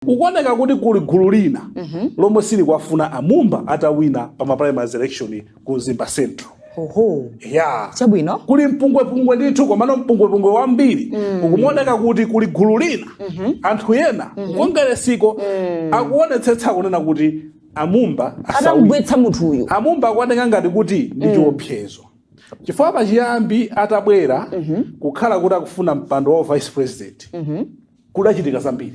kukuoneka kuti kuli gulu lina lomwe silikuwafuna amumba atawina pa ma primaries election ku mzimba central oho ya chabwino kuli mpungwepungwe ndithu komano mpungwepungwe wambiri ukumaoneka kuti kuli gulu lina anthu ena ku kongeresiko akuonetsetsa kunena kuti amumba asawine atamgwetsa munthu uyu amumba akuoneka ngati kuti ndi chiopsezo chifukwa pachiyambi atabwera kukhala kuti akufuna mpando wa vice president kudachitika zambiri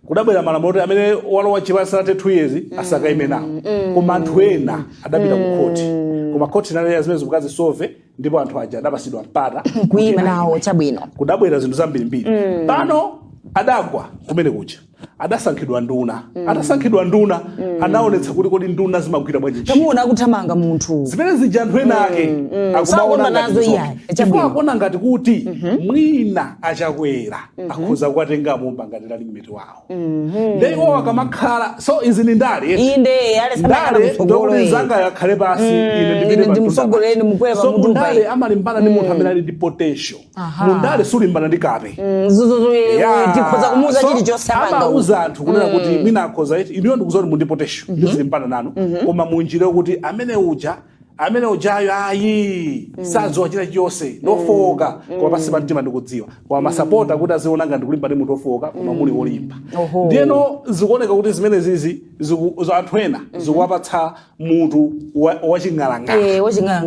kudabwera malamulo oti amene walowa chipani sanathe 2 years asakaime nawo koma anthu ena adapita ku khoti koma khoti inanena zimenezi mukazisove ndipo anthu aja adapasidwa mpata kuima nawo chabwino kudabwera zinthu zambirimbiri pano adagwa kumene kuja adasankhidwa nduna atasankhidwa nduna anaonetsa kuti kodi nduna zimagwira bwanji ntchito. tamuona akuthamanga munthu zimene zija anthu ena ake Sakondwa akumaona ngati nazo zoke. iyayi. chifukwa Chabwino. akuona ngati kuti mwina achakwera akhoza kuwatenga amumba ngati running mate wawo nde iwo akamakhala so izi ni ndale eti. inde yale samakhala ndale kutsogolo ndokuti iyi. nzangayo akhale pasi ine ine ndipite pa ndimsogolere, mtunda. ndimukwere pa so mutu mundale payi. amalimbana ndi munthu amene ali ndi potential Aha. mundale sulimbana ndi kape Mm, zuzuzu Yeah. tikhoza kumuuza So, chilichonse amanga amauza anthu kunena kuti mwina akhoza eti ineyo ndikudziwa kuti muli ndi potential ndizilimbana nanu koma munjira kuti amene uja amene ujayo ayi sadziwa china chilichonse ndi ofowoka koma pansi pa mtima ndikudziwa koma masapota kuti aziona ngati ndikulimbana ndi munthu ofowoka koma muli wolimba Oho. ndiyeno zikuoneka kuti zimenezizi ziku- za anthu ena zikuwapatsa mutu wa- waching'alang'ala Eh, waching'alang'ala